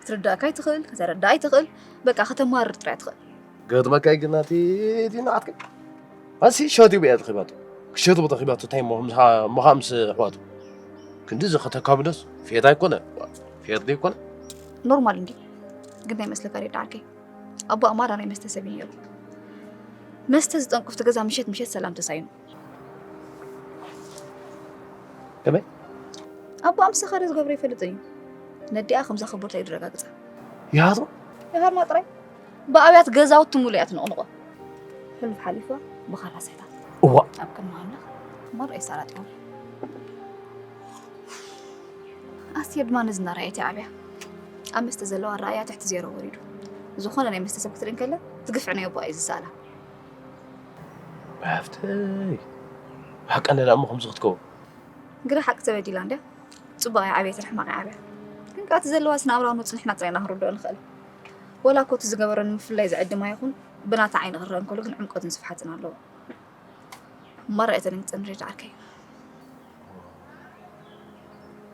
ክትርዳእካ ኣይትኽእል፣ ከተረዳእ ኣይትኽእል፣ በቃ ከተማርር ጥራይ ትኽእል። ገጥመካ ግን ናቲ እቲ ንዓትከ ኣሲ ሸት ይብያ ተኺባቱ ክሸት ቦታ ኺባቱ እንታይ እሞ ምኻ ምስ ኣሕዋቱ ክንዲዚ ከተካብደስ ፌት ኣይኮነ ፌት ዘይኮነ ኖርማል እንዲ ግን ናይ መስለካ ሬዳ ዓርከይ ኣቦ ኣማራ ናይ መስተ ሰብ እዩ ነይሩ መስተ ዝጠንቁፍቲ ገዛ ምሸት ምሸት ሰላም ተሳይኑ ከመይ ኣቦ ኣምሳኻሪ ዝገብሮ ይፈልጥ እዩ ነዲኣ ከም ዘኽብርቶ እዩ ድረጋግፃ ይሃቶ ይሃርማ ጥራይ ብኣብያት ገዛውቲ ሙሉ እያ ትንቕንቖ ሕሉፍ ሓሊፋ ብኻራ ስሕታት እዋ ኣብ ቅድሚ ኣምላኽ መርኣይ ሳላት እዮም ኣስቴር ድማ ነዚ እናረኣየት እያ ዓብያ ኣብ መስተ ዘለዋ ራእያ ትሕቲ ዜሮ ወሪዱ ዝኾነ ናይ መስተ ሰብ ክትርኢ እንከላ ዝግፍዕ ናይ ኣቦኣ እዩ ዝሰኣላ ሃፍተይ ሓቀነላ እሞ ከምዚ ክትከውን ግራ ሓቂ ተበዲላ እንድያ ፅቡቅ እያ ዓብየትን ሕማቅ ዓብያ ግን ከዓ እቲ ዘለዋ ስነኣብራዊ ኖት ንሕና ጥራይ ኢና ክንርድኦ ንኽእል ወላ እኮ እቲ ዝገበሮ ንምፍላይ ዝዕድማ ይኹን ብናታ ዓይኒ ክረአ እንከሎ ግን ዕምቆትን ስፍሓትን ኣለዎ መራ እተን ንፅን ሬድ ዓርከይ